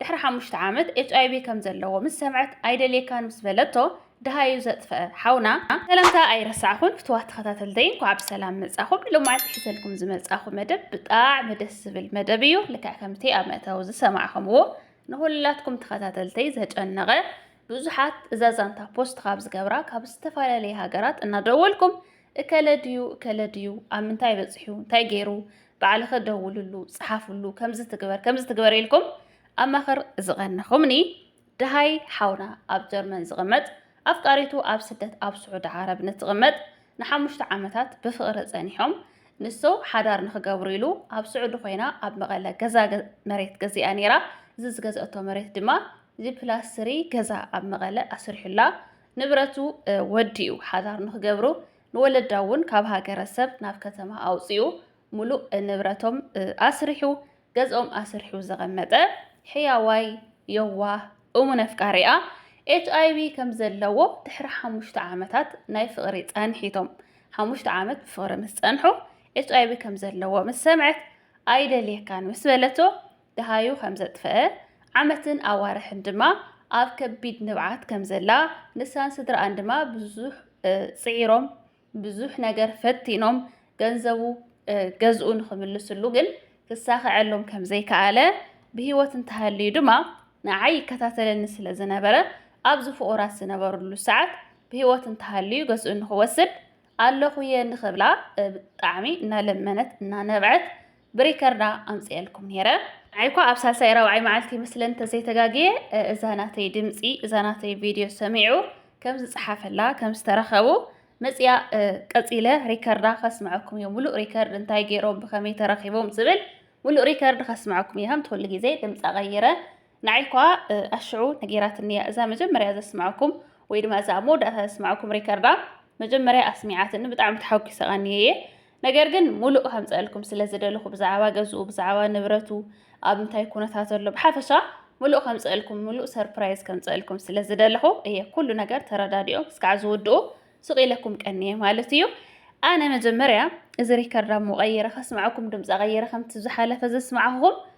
ድሕሪ ሓሙሽተ ዓመት ኤች ኣይቪ ከም ዘለዎ ምስ ሰምዐት ኣይደልየካን ምስ በለቶ ድሃዩ ዘጥፈአ ሓውና ሰላምታ ኣይረሳዕኹን ፍትዋት ተኸታተልተይ እንኳዕ ብሰላም መጻኹም ሎማዓልቲ ሒዘልኩም ዝመጻኹ መደብ ብጣዕሚ ደስ ዝብል መደብ እዩ ልክዕ ከምቲ ኣብ መእተዊ ዝሰማዕኹምዎ ንኹላትኩም ተኸታተልተይ ዘጨነቐ ብዙሓት እዛ ዛንታ ፖስት ካብ ዝገብራ ካብ ዝተፈላለየ ሃገራት እናደወልኩም እከለ ድዩ እከለ ድዩ ኣብ ምንታይ በጺሑ እንታይ ገይሩ ባዕልኸ ደውልሉ ጽሓፍሉ ከምዚ ትግበር ከምዚ ትግበር ኢልኩም ኣብ ማኸር ዝቐነኹምኒ ድሃይ ሓውና ኣብ ጀርመን ዝቕመጥ ኣፍቃሪቱ ኣብ ስደት ኣብ ስዑዲ ዓረብ ንትቕመጥ ንሓሙሽተ ዓመታት ብፍቕሪ ጸኒሖም ንሶ ሓዳር ንክገብሩ ኢሉ ኣብ ስዑዲ ኮይና ኣብ መቐለ ገዛ መሬት ገዚኣ ነይራ እዚ ዝገዝአቶ መሬት ድማ እዚ ፕላስ ስሪ ገዛ ኣብ መቐለ ኣስሪሑላ ንብረቱ ወዲኡ ሓዳር ንክገብሩ ንወለዳ እውን ካብ ሃገረ ሰብ ናብ ከተማ ኣውፂኡ ሙሉእ ንብረቶም ኣስሪሑ ገዝኦም ኣስሪሑ ዘቐመጠ ሕያዋይ የዋህ እሙን ኣፍቃሪኣ ኤች ኣይቪ ከም ዘለዎ ድሕሪ ሓሙሽተ ዓመታት ናይ ፍቕሪ ፃንሒቶም ሓሙሽተ ዓመት ብፍቕሪ ምስ ፀንሑ ኤች ኣይቪ ከም ዘለዎ ምስ ሰምዐት ኣይደልየካን ምስ በለቶ ደሃዩ ከምዘጥፈኣ፣ ዓመትን ኣዋርሕን ድማ ኣብ ከቢድ ንብዓት ከምዘላ፣ ንሳን ስድራኣን ድማ ብዙሕ ጽዒሮም ብዙሕ ነገር ፈቲኖም ገንዘቡ ገዝኡ ንክምልስሉ ግን ክሳኸዐሎም ከምዘይከኣለ ብህይወት እንተሃልዩ ድማ ንዓይ ይከታተለኒ ስለ ዝነበረ ኣብዚ ፍቑራት ዝነበርሉ ሰዓት ብህይወት እንተሃልዩ ገዝኡ ንክወስድ ኣለኹ'የ ንኽብላ ብጣዕሚ እናለመነት እናነብዐት ብሪከርዳ ኣምፅኤልኩም ነይረ። ንዓይኳ ኣብ ሳልሳይ ራብዓይ መዓልቲ ይመስለን እንተዘይተጋግየ እዛ ናተይ ድምፂ እዛ ናተይ ቪድዮ ሰሚዑ ከም ዝፀሓፈላ ከም ዝተረኸቡ መፅያ ቀፂለ ሪከርዳ ከስምዐኩም እየ ሙሉእ ሪከርድ እንታይ ገይሮም ብኸመይ ተረኺቦም ዝብል ሙሉእ ሪከርድ ከስምዐኩም እየ ከም ትኩሉ ግዜ ድምፃ ቀይረ ንዓይ እኳ ኣሽዑ ነጊራትኒ እያ እዛ መጀመርያ ዘስምዐኩም ወይ ድማ እዛ ኣብ መወዳእታ ዘስምዐኩም ሪከርዳ መጀመርያ ኣስሚዓትኒ ብጣዕሚ ተሓጒሰ ቐንየ እየ ነገር ግን ሙሉእ ከምፀእልኩም ስለ ዝደለኹ ብዛዕባ ገዝኡ ብዛዕባ ንብረቱ ኣብ እንታይ ኩነታት ኣሎ ብሓፈሻ ሙሉእ ከምፀእልኩም ሙሉእ ሰርፕራይዝ ከምፀእልኩም ስለ ዝደለኹ እየ ኩሉ ነገር ተረዳዲኦም እስካዕ ዝውድኡ ሱቕ ኢለኩም ቀንየ ማለት እዩ ኣነ መጀመርያ እዚ ሪከርዳ እሞ ቐይረ ከስምዐኩም ድምፃ ቐይረ ከምቲ ዝሓለፈ ዘስምዓኹም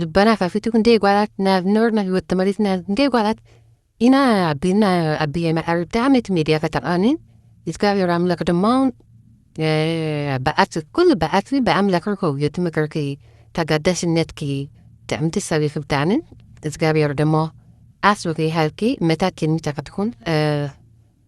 ልበና ከፊቱ ክንደይ ጓላት ናብ ዝነበርና ህይወት ተመሊስና ክንደይ ጓላት ኢና ኣቢልና ኣቢየ መዓር ብጣዕሚ እቲ ሚድያ ከተቃኒ እግዚኣብሔር ኣምላክ ድማ ብዓት ኩሉ ብዓት ብኣምላክ ርኸው እዩ እቲ ምክርኪ ተጋዳሽነትኪ ጥዕምቲ ሰብ ኢኺ ብጣዕሚ እግዚኣብሔር ድማ ኣስብኺ ሃልኪ መታኪን ተክትኩን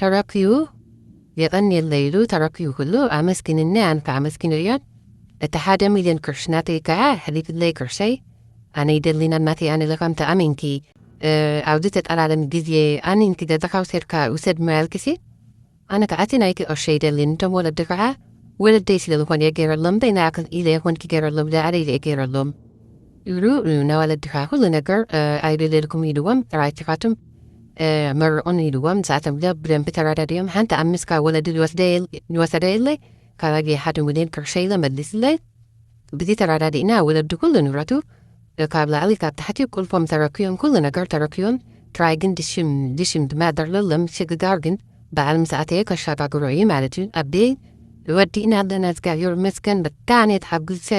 ተረኪቡ የቐንየለይ ኢሉ ተረኪቡ ክሉ ኣመስጊንኒ ኣነ ከኣ ኣመስጊኑ እየ እቲ ሓደ ሚልዮን ቅርሺ ናተይ ከኣ ሐሊፍለይ ቅርሸይ ኣነ ይደሊ ናብ ናተይ ኣነ ለካም ተኣሚንኪ ኣብዚ ተጠላለን ግዜ ኣሚንኪ ገዛካ ውሰድካ ውሰድ ምባልኪሲ ኣነ ከኣ እቲ ናይቲ ቅርሸይ ይደሊ ንቶም ወለዲ ከኣ ወለደይ ስለ ዝኾኑ እየ ገይረሎም በይነይ ኣክል ኢለ ኣይኮንኪ ገይረሎም ዝያዳ ኢለ እየ ገይረሎም ኢሉ ንወለድኻ ኩሉ ነገር ኣይደልየልኩምን ኢልዎም ጥራይ ኣቲኻትም መርቑኒ ኢልዎም ንሳቶም ለ ብደንቢ ተረዳዲኦም ሓንቲ ኣምስ ካብ ወለዲ ዝወሰደየለይ ካባጊ ሓደ ሚልዮን ቅርሸይ ለ መሊስለይ ብዚ ተረዳዲእና ወለዲ ኩሉ ንብረቱ ካብ ላዕሊ ካብ ታሕቲ ቁልፎም ተረኪቦም ኩሉ ነገር ተረኪቦም ጥራይ ግን ድሽም ድሽም ድማ ደርለሎም ሽግጋር ግን በዓል ምስ ኣተየ ከሻጋግሮ እዩ ማለት እዩ ኣቢ ወዲእና ኣለና እግዚኣብሔር ይመስገን ብጣዕሚ ተሓጒሰ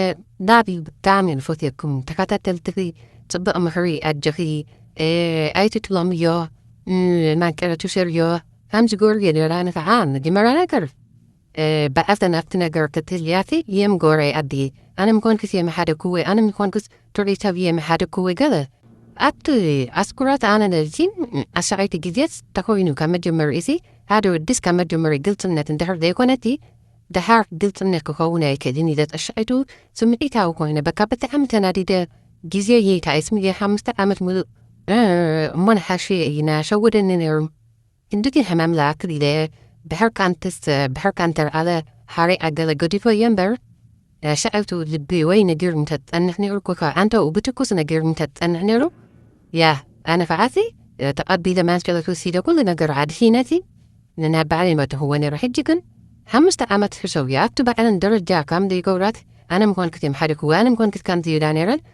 ናቢ ብጣዕሚ ንፈትየኩም ተኸታተልትኺ ፅብቕ ምኽሪ ኣጀኺ ኣይትጥለምዮ ማንቀረቱ ሰርዮ ከምዚ ገሩ የደራኒ ከዓ መጀመርያ ነገር ብዓልተን ኣብቲ ነገር ተተልያፊ የም ጎረይ ኣቢ ኣነ ምኾንኩስ የም ሓደኩ ወይ ኣነ ምኾንኩስ ቱሪታብ የም ሓደኩ ወይ ገለ ኣብቲ ኣስኩራት ኣነ ነዚም ኣሳቂቲ ግዜስ ተኾይኑ ካብ መጀመሪ እዚ ሓደ ወድስ ካብ መጀመሪ ግልጽነት እንድሕር ዘይኮነቲ ድሓር ግልጽነት ክኸውን ኣይክእልን ኢለ ተሻቂቱ ስምዒታዊ ኮይነ በቃ ብጣዕሚ ተናዲደ ግዜ ይይታ ኣይስምየ ሓሙስተ ዓመት ምሉእ እሞ ንሓሽየ እይና ሸውደኒ ነይሩ። ክንድቲ ሕማም ልኣክል ኢለ ብሕርቃንስ ብሕርቃን ተርኣለ ሓሪቐ ገለ ገዲፈዮ እምበር፣ ሸዐልቱ ልቢ ወይ ነጊር እንተ ትጸንሕ ነይሩ ኮካ ኣንተኡ ብትኩስ ነጊር እንተ ትጸንሕ ነይሩ ያህ ኣነ ከዓሲ ተቐቢለ ማንሸሎት ወሲደ ኩሉ ነገር ኣድሒነሲ ንናብ ባዕለይ መተኽዎ ነይረ ሕጂ ግን ሓሙሽተ ዓመት ሕሰብዮ ኣብቲ ባዕለን ደረጃ ካም ዘይገብራት ኣነ ምዃንክስ እዮም ሓደክዎ ኣነ ምዃንክስ ካምዚ ኢላ ነይረን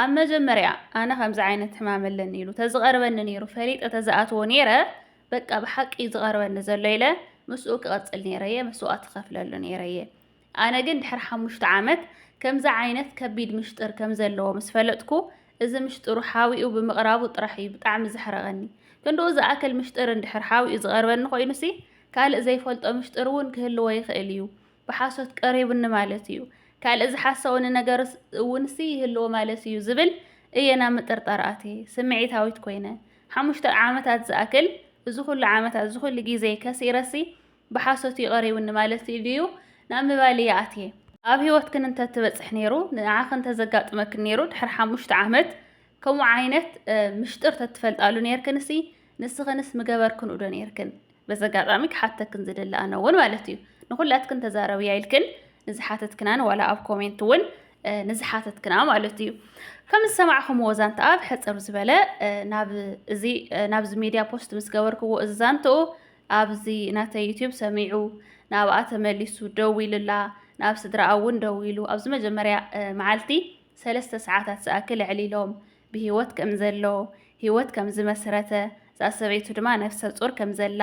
ኣብ መጀመርያ ኣነ ከምዚ ዓይነት ሕማም ኣለኒ ኢሉ ተዝቐርበኒ ነይሩ ፈሊጠ ተዝኣትዎ ነይረ በቃ ብሓቂ እዩ ዝቐርበኒ ዘሎ ኢለ ምስኡ ክቐጽል ነይረ እየ መስዋእቲ ከፍለሉ ነይረ እየ ኣነ ግን ድሕሪ ሓሙሽተ ዓመት ከምዚ ዓይነት ከቢድ ምሽጥር ከም ዘለዎ ምስ ፈለጥኩ እዚ ምሽጥሩ ሓዊኡ ብምቕራቡ ጥራሕ እዩ ብጣዕሚ ዘሕረቐኒ ክንድኡ ዝኣክል ምሽጥር እንድሕር ሓዊኡ ዝቐርበኒ ኮይኑሲ ካልእ ዘይፈልጦ ምሽጥር እውን ክህልዎ ይኽእል እዩ ብሓሶት ቀሪቡኒ ማለት እዩ፣ ካልእ ዝሓሰወኒ ነገር እውንሲ ይህልዎ ማለት እዩ ዝብል እየ ናብ ምጥርጣር ኣትየ። ስምዒታዊት ኮይነ። ሓሙሽተ ዓመታት ዝኣክል፣ እዚ ኩሉ ዓመታት፣ እዚ ኩሉ ግዜ ከሲረሲ ብሓሶት እዩ ቀሪቡኒ ማለት እዩ ድዩ ናብ ምባል እየ ኣትየ። ኣብ ህይወትክን እንተ ትበጽሕ ነይሩ፣ ንዓኺ እንተ ዘጋጥመክን ነይሩ፣ ድሕሪ ሓሙሽተ ዓመት ከምኡ ዓይነት ምሽጥር ተትፈልጣሉ ነይርክንሲ ንስኽንስ ምገበርክንኡዶ ነይርክን? በዚ ኣጋጣሚ ክሓተክን ዝደሊ ኣነ እውን ማለት እዩ ንኩላትክን ተዛረብያ ኢልክን ንዝሓተትክናን ዋላ ኣብ ኮሜንት እውን ንዝሓተትክና ማለት እዩ ከም ዝሰማዕኹምዎ ዛንታ ኣብ ሕፅር ዝበለ ናብዚ ሚድያ ፖስት ምስ ገበርክዎ እዚ ዛንትኡ ኣብዚ ናተ ዩትብ ሰሚዑ ናብኣ ተመሊሱ ደዊሉላ ናብ ስድራኣ እውን ደዊሉ ኣብዚ መጀመርያ መዓልቲ ሰለስተ ሰዓታት ዝኣክል ዕሊሎም ብህይወት ከም ዘሎ፣ ህይወት ከም ዝመስረተ፣ እዛ ሰበይቱ ድማ ነፍሰ ጹር ከም ዘላ፣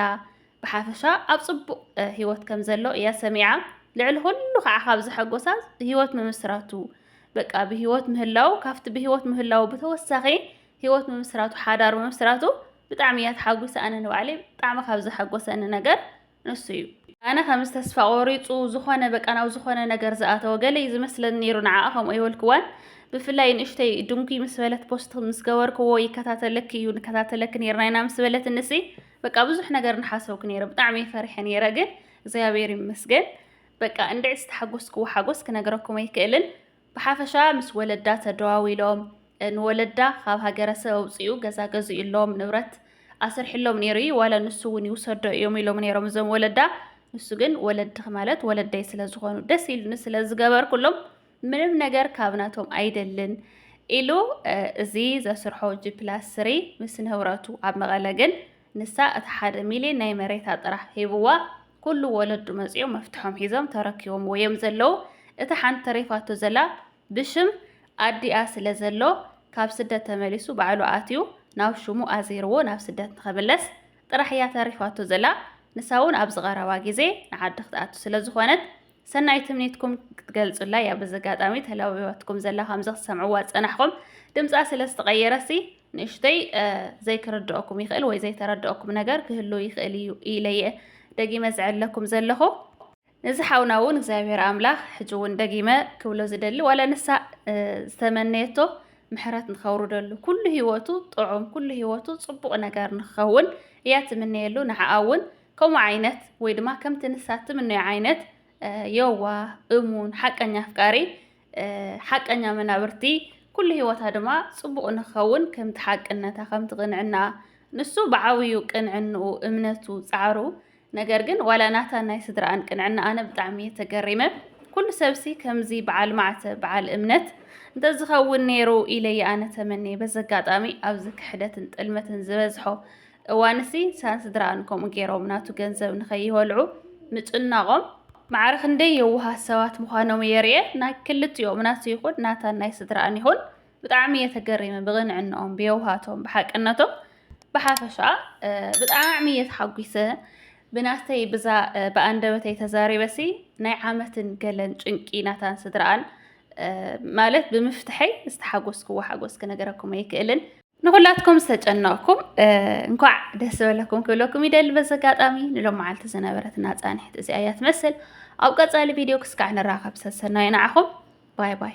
ብሓፈሻ ኣብ ጽቡቕ ህይወት ከም ዘሎ እያ ሰሚዓ። ልዕሊ ኩሉ ከዓ ካብ ዘሐጎሳ ህይወት ምምስራቱ በቃ ብህይወት ምህላው ካብቲ ብህይወት ምህላው ብተወሳኺ ህይወት ምምስራቱ ሓዳር ምምስራቱ ብጣዕሚ እያ ተሓጒሳ። ኣነ ንባዕለይ ብጣዕሚ ካብ ዘሐጎሰኒ ነገር ንሱ እዩ። ኣነ ከምዚ ተስፋ ቆሪጹ ዝኾነ በቃ ናብ ዝኾነ ነገር ዝኣተወ ገለ እዩ ዝመስለኒ ነይሩ ንዓኣ ከምኡ ኣይበልክዋን ብፍላይ ንእሽተይ ድንኩይ ምስ በለት ፖስት ምስ ገበርክዎ ይከታተለኪ እዩ ንከታተለኪ ነይርና ኢና ምስ በለት ንሲ በቃ ብዙሕ ነገር ንሓሰብኩ ነይረ ብጣዕሚ ፈሪሐ ነይረ ግን እግዚኣብሔር ይመስገን በቃ እንድዕት ዝተሓጎስክዎ ሓጎስ ክነግረኩም ኣይክእልን ብሓፈሻ ምስ ወለዳ ተደዋዊሎም ንወለዳ ካብ ሃገረሰብ ኣውፅኡ ገዛ ገዚኡሎም ንብረት ኣስርሕሎም ነይሩ እዩ ዋላ ንሱ እውን ይውሰዶ እዮም ኢሎም ነይሮም እዞም ወለዳ ንሱ ግን ወለድኽ ማለት ወለደይ ስለ ዝኾኑ ደስ ኢሉኒ ስለ ዝገበርኩሎም ምንም ነገር ካብ ናቶም ኣይደልን ኢሉ እዚ ዘስርሖ ጂ ፕላስ ስሪ ምስ ንህብረቱ ኣብ መቐለ ግን ንሳ እቲ ሓደ ሚልዮን ናይ መሬታ ጥራሕ ሂብዋ ኩሉ ወለዱ መጺኦም መፍትሖም ሒዞም ተረኪቦምዎ እዮም ዘለዉ። እቲ ሓንቲ ተሪፋቶ ዘላ ብሽም ኣዲኣ ስለ ዘሎ ካብ ስደት ተመሊሱ ባዕሉ ኣትዩ ናብ ሽሙ ኣዚርዎ ናብ ስደት ንክምለስ ጥራሕ እያ ተሪፋቶ ዘላ። ንሳ እውን ኣብዚ ቀረባ ግዜ ንዓዲ ክትኣቱ ስለ ዝኾነት ሰናይ ትምኒትኩም ክትገልጹላይ ኣብ እዚ ኣጋጣሚ ተላዊባትኩም ዘላ ከምዚ ክትሰምዕዋ ዝጸናሕኩም ድምጻ ስለ ዝተቐየረሲ ንእሽተይ ዘይክርድኦኩም ይኽእል ወይ ዘይተረድኦኩም ነገር ክህሉ ይኽእል እዩ ኢለየ ደጊመ ዝዕለኩም ዘለኹ ነዚ ሓውና እውን እግዚኣብሔር ኣምላኽ ሕጂ እውን ደጊመ ክብሎ ዝደሊ ዋላ ንሳ ዝተመነየቶ ምሕረት ንኸውርደሉ ኩሉ ህይወቱ ጥዑም ኩሉ ህይወቱ ጽቡቕ ነገር ንክኸውን እያ ትምነየሉ ንዓኣ እውን ከምኡ ዓይነት ወይ ድማ ከምቲ ንሳ እትምነዮ ዓይነት የዋህ፣ እሙን፣ ሓቀኛ ኣፍቃሪ፣ ሓቀኛ መናብርቲ ኩሉ ህይወታ ድማ ጽቡቕ ንክኸውን ከምቲ ሓቅነታ ከምቲ ቅንዕና ንሱ ብዓብዩ ቅንዕንኡ፣ እምነቱ፣ ጻዕሩ ነገር ግን ዋላ ናታ ናይ ስድራኣን ቅንዕና ኣነ ብጣዕሚ እየ ተገሪመ ኩሉ ሰብሲ ከምዚ በዓል ማዕተ በዓል እምነት እንተዝኸውን ነይሩ ኢለየ ኣነ ተመንየ በዚ ኣጋጣሚ ኣብዚ ክሕደትን ጥልመትን ዝበዝሖ እዋን'ሲ ንሳን ስድራኣን ከምኡ ገይሮም ናቱ ገንዘብ ንኸይበልዑ ምጭናቖም ማዕረ ክንደይ የዋሃት ሰባት ምዃኖም እየ ርእየ። ናይ ክልቲኦም ናቱ ይኹን ናታን ናይ ስድራኣን ይኹን ብጣዕሚ እየ ተገሪመ ብቕንዕንኦም፣ ብየውሃቶም፣ ብሓቅነቶም ብሓፈሻ ብጣዕሚ እየ ተሓጒሰ። ብናተይ ብዛ ብኣንደበተይ ተዛሪበሲ ናይ ዓመትን ገለን ጭንቂ ናታን ስድራኣን ማለት ብምፍትሐይ ዝተሓጎስክዎ ሓጎስ ክነገረኩም ኣይክእልን። ንኩላትኩም ዝተጨነቕኩም እንኳዕ ደስ ዝበለኩም ክብለኩም ይደሊ። በዚ ኣጋጣሚ ንሎም መዓልቲ ዝነበረትና ፃንሒት እዚኣ እያ ትመስል። ኣብ ቀፃሊ ቪድዮ ክስካዕ ንራኸብ። ሰሰናዩ ንዓኹም። ባይ ባይ